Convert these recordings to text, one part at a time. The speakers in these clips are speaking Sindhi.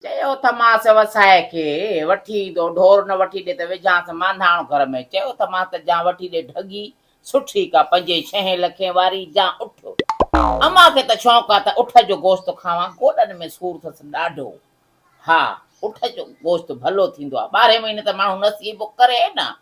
چيو تھ ماس وسائي کي وٺي ايندو، ڍور نھ وٺي ڏي تھ وجھانس مانڌاڻ گھر ۾، چيو تھ ماس تھ جان وٺي ڏي ڍڳي، سٺي ڪا پنجين ڇهين لکين واري جان اٺ، امان کي تھ شوق آ تھ اٺ جو گوشت کاوان، گوڏن ۾ سور اٿس ڏاڍو، ھا، اٺ جو گوشت ڀلو ٿيندو آ، ٻارھين مھيني تھ ماڻھو نسيبو ڪري نھ،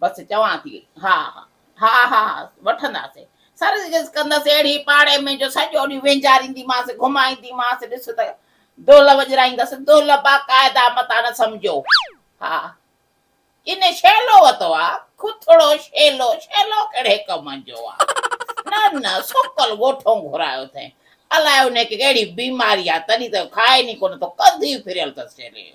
بس چوان ٿي ها ها ها ها ها وٺنداسين سرس جس ڪندس اهڙي پاڙي ۾ جو سڄو ڏينهن وينجارينديمانس گهمائينديمانس ڏس ته دهل وڄرائيندس دهل باقاعده متان نه سمجهو ها ان شيلو وتو آ کٿڙو شيلو شيلو ڪهڙي ڪم جو آ نه نه سڪل ڳوٺون گهرايو اٿئين الائي انهي کي ڪهڙي بيماري آ تڏهن ته کائي ني ڪونه ٿو ڪنڌ ئي ڦريل اٿس شيلي جو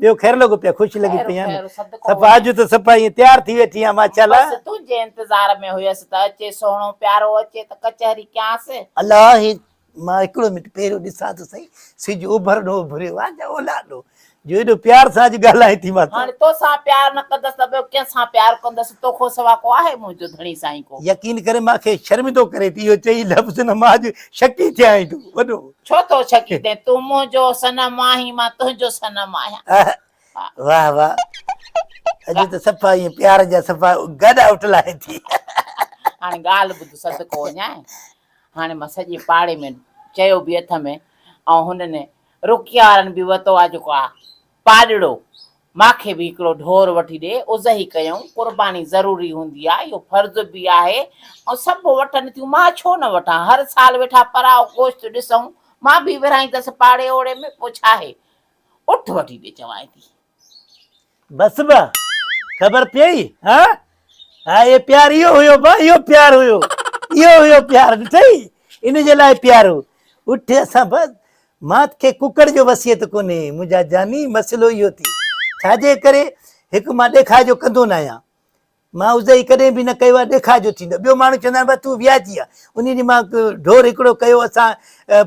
ٻيو خير لڳو پيا خوش لڳي پئي آهيان خير صدقو صفا اڄ ته صفا ائين تيار ٿي ويٺي آهيان ماشاءالله بس تنهنجي انتظار ۾ هيس ته اچي سهڻو پيارو اچي ته ڪچهري ڪيانس الله هي مان هڪڙو منٽ پهريون ڏسان ته سهي سج اوڀر ڏو اڀريو آهي جا اولهه ڏو جو ايڏو پيار سان اڄ ڳالهائين ٿي مان سان هاڻي توسان پيار نه ڪندس ته ٻيو ڪنهن سان پيار ڪندس توکو سوا ڪو آهي منهنجو ڌڻي سائين ڪو يقين ڪري مان کي شرمندو ڪري ٿي اهو چئي لفظ نه مان اڄ شڪي ٿي آهيان تون وڏو ڇو ٿو ڇڪين تين تون منهنجو صنم آهين مان تنهنجو صنم آهيان واهه واهه اڄ ته صفا ائين پيار جا صفا گڏ آئوٽ لاهين ٿي هاڻي ڳالهه ٻڌ صدقو وڃائين هاڻي مان سڄي پاڙي ۾ چيو به اٿم ۽ هنن رڪيارن به وتو آ جيڪو آ پاڏڙو، مان کي به هڪڙو ڍور وٺي ڏي، اضحي ڪيائون، قرباني ضروري هوندي آ، اهو فرض به آهي، ۽ سڀ وٺن ٿيون، مان ڇو نه وٺان، هر سال ويٺا پراء گوشت ڏسون، مان به ورهائيندس پاڙي اوڙي ۾، پوء ڇاهي، اٺ وٺي ڏي چوانء ٿي. بس با، خبر پيئي، ها، ها، اهي پيار، اهو هيو با، اهو پيار هيو، اهو هيو پيار، ڏٺئي، ان جي لاء پيار هو، اٺ اسان با، مات کي ڪڪڙ جو وصيت ڪونهي منهنجا جاني مسئلو اهو ٿي ڇا جي ڪري هڪ مان ڏيکاء جو ڪندو نه آهيان مان ازهي ڪڏهن به نه ڪيو آهي ڏيکاء جو ٿيندو ٻيو ماڻهو چوندا آهن تون وياجي آهي ان ڏينهن مان ڍور هڪڙو ڪيو اسان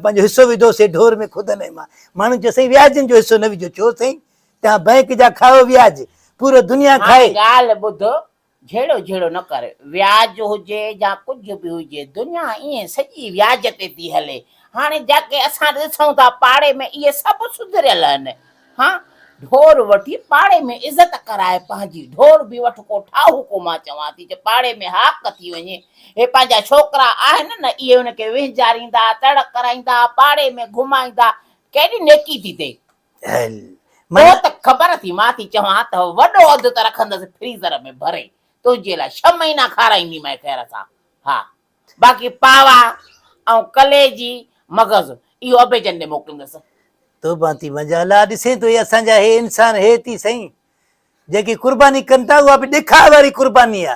پنهنجو حصو وڌوسي ڍور ۾ خود نه مان ماڻهو چيو سائين وياجن جو حصو نه وجهو ڇو سائين تها بئنڪ جا کائو وياج پورو دنيا کائي ڳالهه ٻڌ جهيڙو جهيڙو نه ڪر، وياج هجي يا ڪجهه به هجي، دنيا ائين سڄي وياج تي ٿي هلي. هاڻي جيڪي اسان ڏسون ٿا پاڙي ۾ اهي سڀ سڌريل آهن. ها ڍور وٺي پاڙي ۾ عزت ڪرائي پنهنجي ڍور به وٺ ڪو ٺاهو ڪو مان چوان ٿي جو پاڙي ۾ هاڪ ٿي وڃي اهي پنهنجا ڇوڪرا آهن نه اهي ان کي وهنجاريندا تڙ ڪرائيندا پاڙي ۾ گهمائيندا ڪيڏي نيڪي ٿي ٿئي. هل منا پوء ته خبر اٿئي مان ٿي چوان ته وڏو اڌ ته رکندس فريزر ۾ ڀري تنهنجي لاء ڇهه مهينا کارائينديمانء خير سان ها باقي پاوا ۽ ڪليجي مغز اهو ابي جن ڏي موڪليندس. توبان ٿي منهنجا الا ڏسين ٿو هي اسان جا هي انسان هي ٿي سائين جيڪي قرباني ڪن ٿا اها به ڏکاء واري قرباني آ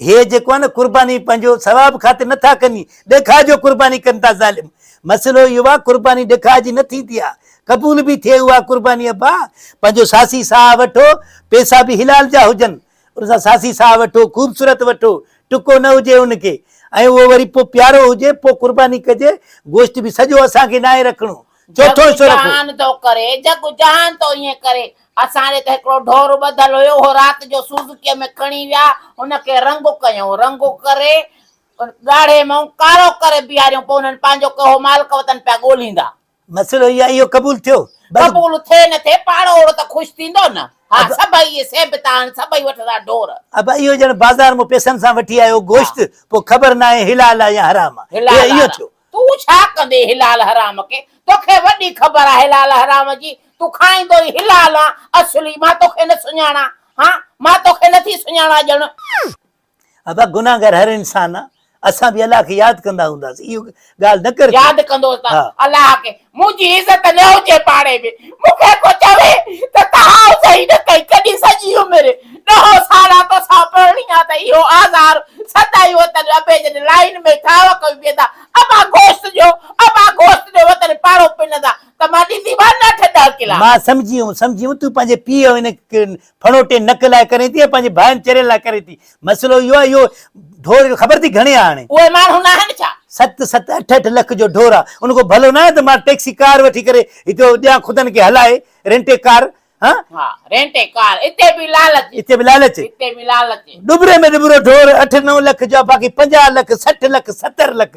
هي جيڪو آهي نه قرباني پنهنجو ثواب خاطر نه ٿا ڪن ڏيکاء جو قرباني ڪن ٿا ظالم مسئلو اهو آهي قرباني ڏيکاء جي نه ٿيندي آهي قبول به ٿئي اها قرباني ابا پنهنجو ساسي ساهه وٺو پيسا به حلال جا هجن ان سان ساسي ساهه وٺو خوبصورت وٺو ٽڪو نه هجي ان کي ۽ اهو وري پوء پيارو هجي پوء قرباني ڪجي گوشت به سڄو اسان کي ناهي رکڻو جگ و جهان ٿو ڪري، جگ و جهان ٿو ائين ڪري. اسان ڏي ته هڪڙو ڍور ٻڌل هيو، اهو رات جو سوزوڪيء ۾ کڻي ويا، ان کي رنگو ڪيائون، رنگو ڪري ڳاڙهي مئون ڪارو ڪري بيهاريائون، پوء انهن پنهنجو ڪهو مالڪ وطن پيا ڳوليندا. مسئلو هي آهي، اهو قبول ٿيو؟ قبول ٿئي نه ٿئي، پاڙو اهڙو ته خوش ٿيندو نه. ها، سڀئي اهي سيبتا آهن، سڀئي وٺندا ڍور. ابا اهو ڄڻ بازار مون پيسن سان وٺي آيو گوشت، پوء خبر ناهي حلال آ يا حرام آ. حلال آ. تون ڇا ڪندين حلال حرام کي توکي وڏي خبر آ حلال حرام جي تون کائيندو ئي حلال آن اصلي مان توکي نه سڃاڻان ها مان توکي نٿي سڃاڻان ڄڻ. ابا گناهگار هر انسان آ اسان به الله کي ياد ڪندا هونداسين اهو ڳالهه نه ڪر ياد ڪندوس ته الله کي منهنجي عزت نه هجي پاڙي ۾، مون کي ڪو چوي ته تهائو صحيح نه ڪئين، ڪڏهن سڄي عمر ڏهو ساڙا توسان پرڻي آ ته اهو آزار سدائين وطن ابي جن لائين ۾ ٿانء ڪيون ويندا، ابا گوشت ڏيو، ابا گوشت ڏيو وطن پاڙو پنندا ته مان ڏينديمان نه اٺ ڏهه ڪلا. مان سمجهيم، سمجهيم تون پنهنجي پيء ۽ ان ڦڻوٽي نڪ لاء ڪرين ٿي ۽ پنهنجي ڀائن چرين لاء ڪرين ٿي. مسئلو اهو آهي اهو ڍور خبر اٿئي گهڻي آهي هاڻي؟ اهي ماڻهو ناهن ڇا؟ ست ست اٺ اٺ لک جو ڍور آهي ان کان ڀلو ناهي ته مان ٽيڪسي ڪار وٺي ڪري هتي ڏيان خدن کي هلائي رينٽي ڪار ها؟ ها رينٽي ڪار اتي به لالچ. اتي به لالچ. اتي به لالچ. ڏٻري ۾ ڏٻرو ڍور اٺ نو لک جو آهي باقي پنجاهه لک سٺ لک ستر لک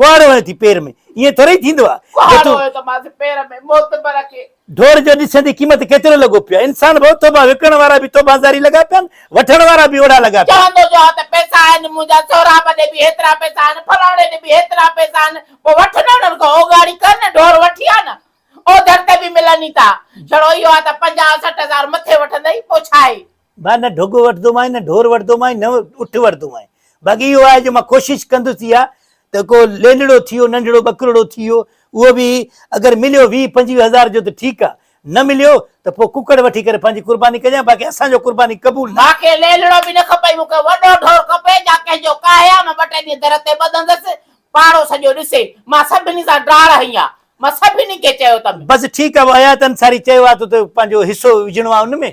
ڪهاڙو هنئي ٿي پير ۾، ائين ٿورئي ٿيندو آهي. ڪهاڙو هنيو ته مانس پير ۾، معتبر کي. ڍور جو ڏسين ٿي قيمت ڪيترو لڳو پيو آهي. انسان ڀئو ٿوڀا وڪڻڻ وارا به ٿوڀا زاري لڳا پيا آهن، وٺڻ وارا به اوڙا لڳا پيا آهن. چوندو جو آهي ته پئسا آهن منهنجا، سهراب ڏي به هيترا پئسا آهن، فلاڻي ڏي به هيترا پئسا آهن، پوء وٺ نه انهن کان اوڳاڙي ڪر نه، ڍور وٺي آ نه، اوڌر تي به ملن ئي ٿا. جھڙو اهو آهي ته پنجاهه سٺ هزار مٿي وٺندئي، پوء ڇا آهي؟ ڀا نه ڍڳ وٺندومانء نه ڍور وٺندومانء نه اٺ وٺندومانء باقي اهو آهي جو مان ڪوشش ڪندس اها ته ڪو ليلڙو ٿي ويو ننڍڙو ٻڪرڙو ٿي ويو اهو به اگر مليو ويهه پنجويهه هزار جو ته ٺيڪ آهي نه مليو ته پوء ڪڪڙ وٺي ڪري پنهنجي قرباني ڪجان باقي اسان جو قرباني قبول نه مون کي ليلڙو به نه کپي مون کي وڏو ڍور کپي جا ڪنهن جو ڪاهيان مان ٻه ٽي ڏينهن در تي ٻڌندس پاڙو سڄو ڏسي مان سڀني سان ڊاڙ هنئي آهي مان سڀني کي چيو ته. بس ٺيڪ آهي حيات انصاري چيو آهي ته پنهنجو حصو وجهڻو آهي ان ۾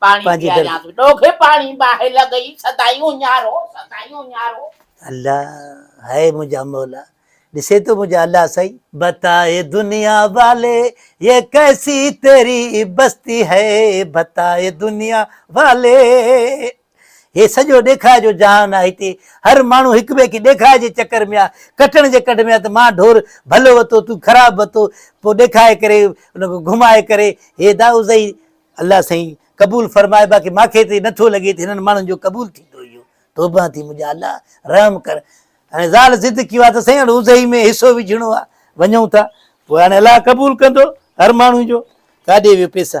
پاڻي پنهنجي در. پياريانس ڏوگهي پاڻي باهه لڳئي سدائين اڃارو سدائين اڃارو. الله هي منهنجا مولا ڏسي ٿو منهنجا الله سائين. بتائي دنيا والي يي ڪيسي تيري بستي هي بتائي دنيا والي هي سڄو ڏيکاء جو جهان آ هتي هر ماڻهو هڪ ٻئي کي ڏيکاء جي چڪر ۾ آ ڪٽڻ جي ڪڍ ۾ آ ته مان ڍور ڀلو وتو تون خراب وتو پو ڏيکاء ڪري ان کي گهمائي ڪري هي دائوزئي الله سائين قبول فرماء باقي مانکي تي نٿو لڳي ته هنن ماڻهن جو قبول ٿيندو اهو توبه ٿي منهنجا الله رحم ڪر هاڻي زال ضد ڪيو آهي ته سائين هاڻي اوزهي ۾ حصو وجهڻو آهي وڃون ٿا پوء هاڻي الله قبول ڪندو هر ماڻهو جو ڪاڏي ويو پيسا